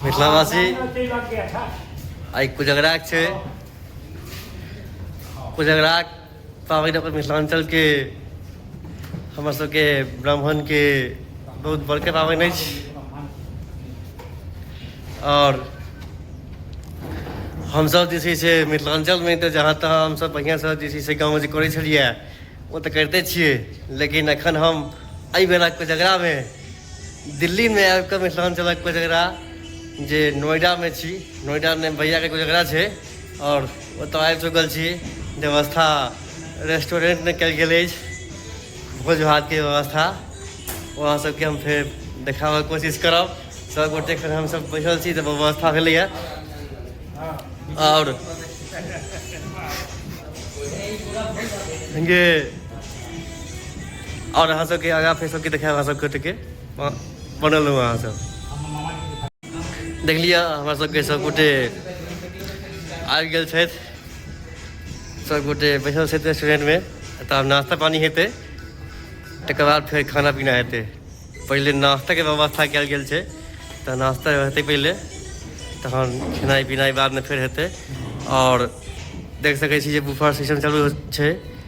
मिथिलावासी आइ कुजगराक छै कुजगराक पाबनि अपन मिथिलाञ्चलके हमर सबके ब्राह्मणके बहुत बड़के पाबनि अछि आओर हमसब जे छै से मिथिलाञ्चलमे तऽ जहाँ तहाँ हमसब बढ़िआँसँ जे छै से गाँवमे जे करै छलिए ओ तऽ करिते छिए लेकिन एखन हम एहि बेरा कोजगरामे दिल्ली में आबि कऽ मिथिलाञ्चलक कोजगरा जे नोएडा में छी नोएडा में भैया के कोजगरा छै और ओतऽ आबि चुकल छी व्यवस्था रेस्टोरेंट में कल गेल अछि भोज भात के व्यवस्था वहाँ सबके हम फेर देखाबऽ कोशिश करब सब गोटे खन हम सब बैठल छी तऽ व्यवस्था भेलैया और ये और अहाँ सबके आगा फेर सबके देखायब अहाँ सबके टिके बनल रहू अहाँ सब देख लिअ हमरा सबके सबगोटे आबि गेल छथि सबगोटे बैसल छथि रेस्टोरेंटमे तऽ आब नाश्ता पानी हेतै तकर बाद फेर खाना पीना हेतै पहिले नाश्ताके व्यवस्था कयल गेल छै तऽ नाश्ता हेतै पहिले तहन खेनाइ पिनाइ बादमे फेर हेतै आओर देख सकै छी जे बुफर सिस्टम चालू छै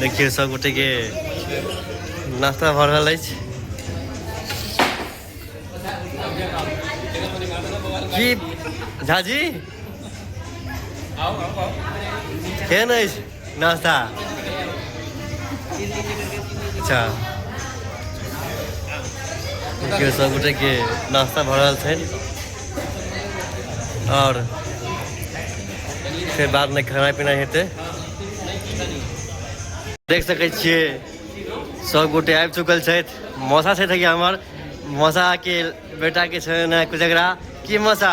देखियौ सभगोटेके नाश्ता भऽ रहल अछि जी झाजी केहन अछि नाश्ता अच्छा देखियौ सभगोटेके नाश्ता भऽ रहल छै आओर फेर बादमे खाना पीना हेतै देख सकै छियै सभगोटे आबि चुकल छथि मौसा छथि हमर मौसाके बेटाके छै ने कुछ एकरा की मौसा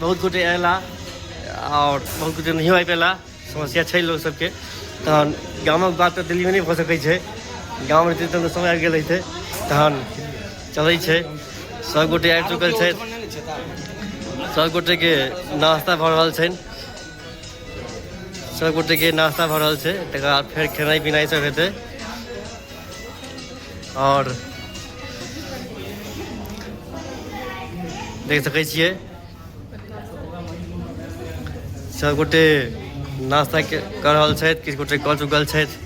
बहुत गोटे अयला आओर बहुत गोटे नहियो आबि पेला समस्या छै लोक सबके तहन गामक बात तऽ दिल्लीमे नहि भऽ सकै छै गाम रहितै तहन तऽ समय आबि गेल रहितै तहन चलै छै सब गोटे आबि चुकल छथि सब गोटे के नाश्ता भऽ रहल छनि सब गोटे के नाश्ता भऽ रहल छै तकर बाद फेर खेनाइ पिनाइ सब हेतै और देख सकै छियै सभगोटे नाश्ता के- कऽ रहल छथि किछु गोटे कऽ चुकल छथि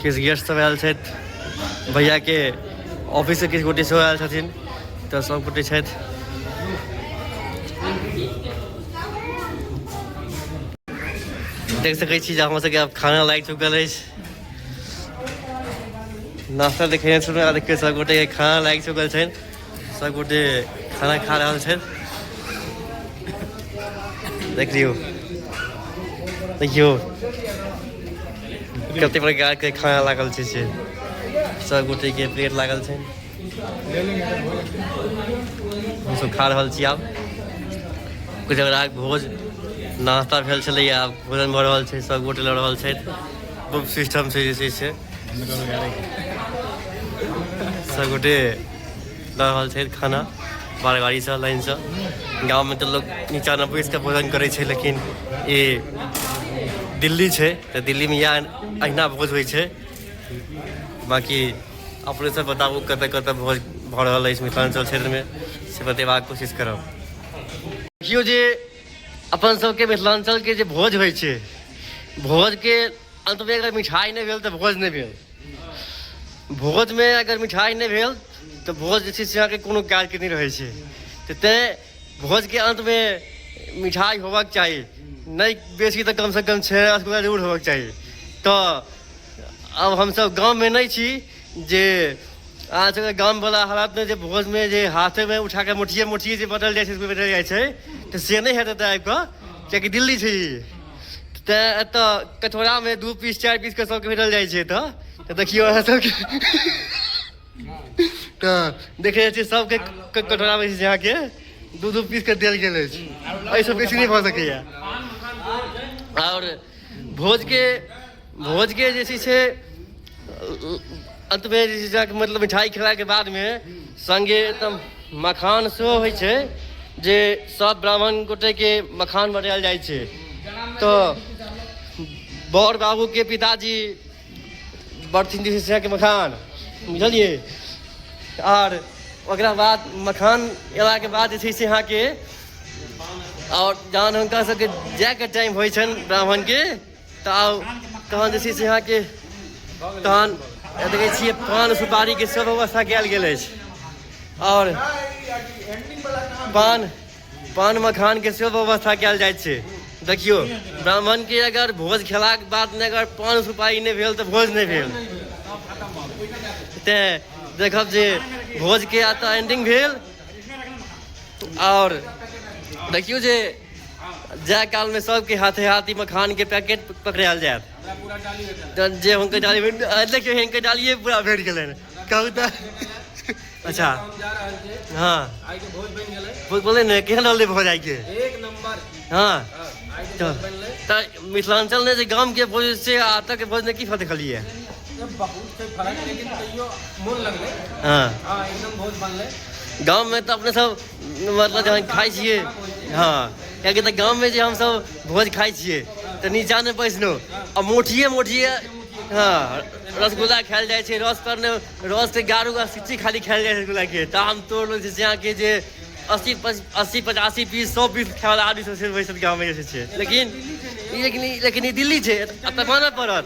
किछु गेस्ट सब आयल छथि भैया के ऑफिस से किछु गोटे सेहो आयल छथिन तऽ सब गोटे छथि देख सकै छी जे हमर सबके आब खाना लागि चुकल अछि नाश्ता देखे सुन देखिए सब गोटे खाना लागि चुकल छनि सब गोटे खाना खा रहल छनि देख लियौ देखियौ कते प्रकारके खाना लागल छै से सब गोटेके प्लेट लागल छै हमसभ खा रहल छी आब कुछ भोज नाश्ता भेल छलैए आब भोजन भऽ रहल छै सब गोटे लऽ रहल छथि ग्रुप सिस्टम छै जे छै से सभगोटे दऽ रहल छथि खाना बार गाड़ीसँ लाइनसँ गाममे तऽ लोक नीचाँ नहि बैस कऽ भोजन करै छै लेकिन ई दिल्ली छै तऽ दिल्लीमे इएह अहिना भोज होइ छै बाँकी अपने सब बताबू कतऽ कतऽ भोज भऽ रहल अछि मिथिलाञ्चल क्षेत्रमे से बतेबाक कोशिश करब देखियौ जे अपन सबके मिथिलाञ्चलके जे भोज होइ छै भोजके अन्तमे अगर मिठाइ नहि भेल तऽ भोज नहि भेल भोजमे अगर मिठाइ नहि भेल तऽ भोज जे छै से अहाँके कोनो काजके नहि रहै छै तऽ तैँ भोजके अन्तमे मिठाइ होबाक चाही नहि बेसी तऽ कमसँ कम छओ रसगुल्ला जरूर होबाक चाही तऽ आब हमसभ गाममे नहि छी जे अहाँ सबके गाम वाला हालात में जे भोज में जे हाथे में उठा के मोटिये मोटिये जे बदल जाइ छै से बदल जाइ छै तऽ से नहि हेतै एतऽ आबि कऽ कियाकि दिल्ली छै ई तैं एतऽ कटोरा में दू पीस चारि पीस के सबके भेटल जाइ छै एतऽ तऽ देखियौ अहाँ सबके तऽ देखे जाइ छियै सबके क- कटोरा में जे छै अहाँके दू दू पीस के देल गेल अछि एहिसँ बेसी नहि भऽ सकैया आओर भोजके भोजके जे छै से अन्तमे जे छै से मतलब मिठाइ खेलाके बादमे सङ्गे एकदम मखान सेहो होइ छै जे सब ब्राह्मण गोटेके मखान बनायल जाइ छै तऽ बड़ बाबूके पिताजी बर्थिन जे छै से मखान बुझलियै आर ओकरा बाद मखान अयलाके बाद जे छै से अहाँके आओर जहन हुनका सबके जायके टाइम होइ छनि ब्राह्मणके तऽ आउ तहन जे छै से अहाँके तहन देखै छियै पान सुपारीके सब व्यवस्था कयल गेल अछि आओर पान पान मखानके सेहो व्यवस्था कयल जाइत छै देखियौ ब्राह्मणके अगर भोज खेलाक बाद नहि अगर पान सुपारी नहि भेल तऽ भोज नहि भेल तेँ देखब जे भोजके एतऽ एंडिंग भेल आओर देखियौ जे जाय कालमे सबके हाथे हाथ ई मखानके पैकेट पकड़ायल जायत तऽ जे हुनकर डाली देखियौ हिनकर डालिए पूरा भरि गेलै कहू तऽ अच्छा हँ बोले ने केहन रहलै भोज आइके हँ तऽ मिथिलाञ्चल ने जे गामके भोज से आतके भोज ने की फर्क देखलियै हँ गाँवमे तऽ अपने सब मतलब जहन खाइ छियै हँ कियाकि तऽ गाममे जे हमसब भोज खाइ छियै तऽ नीचा नहि बैसलहुँ आ मोठिए मोठिए हँ रसगुल्ला खायल जाइ छै रस पर ने रस से गारू आ सिच्ची खाली खायल जाइ छै रसगुल्लाके तऽ हम तोड़ लै छियै अहाँके जे अस्सी पच- अस्सी पचासी पीस सौ पीस खाय वाला आदमी सब छै बैसल गाममे जे छै लेकिन ई लेकिन ई लेकिन ई दिल्ली छै एतऽ मानऽ पड़त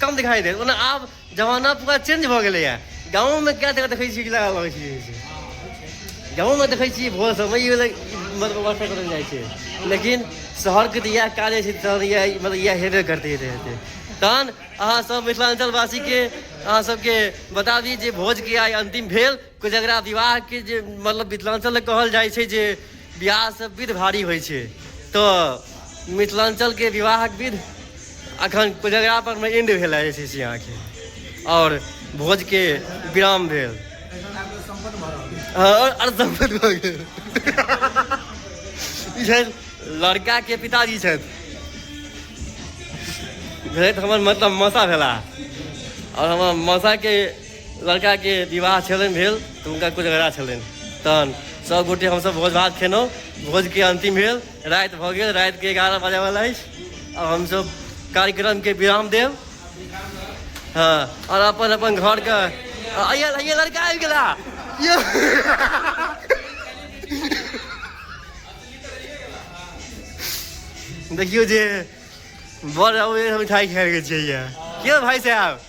कम दिखाई दे ओना आब जमाना पूरा चेंज भऽ गेलैए गाँवमे कए जगह देखै छियै कि लगा लगै छै जे छै। गाँवमे देखै छियै भोर समय ई भेलै मतलब व्यवस्था करल जाइ छै लेकिन शहरके तऽ इएह काज होइ छै तहन इएह मतलब इएह हेबे करतै हेतै हेतै तहन अहाँ सब मिथिलाञ्चलवासीके अहाँ सबके बता दी जे भोजके आइ अन्तिम भेल कोजगरा विवाह के जे मतलब मिथिलांचल कहल जाइ छै जे विवाह से विध भारी होइ छै तऽ मिथिलांचल के विवाहक विध अखन कोजगरा पर मे एंड भेल जे छै से अहाँके आओर भोज के विराम भेल लड़का के पिताजी छथि भेलथि हमर मतलब मसा भेला आओर हमर मसा के लड़काके विवाह छलनि भेल तऽ हुनका कोजगरा छलनि तहन सभगोटे हमसभ भोज भात खेलहुँ भोजके अन्तिम भेल राति भऽ गेल रातिके एगारह बजेवला अछि आओर हमसभ कार्यक्रमके विराम देब हँ आओर अपन अपन घरके अइया अइया लड़का आबि गेला यौ। देखियौ जे बड़ अबैए मिठाइ खाएके चाहिए के भाइ साहब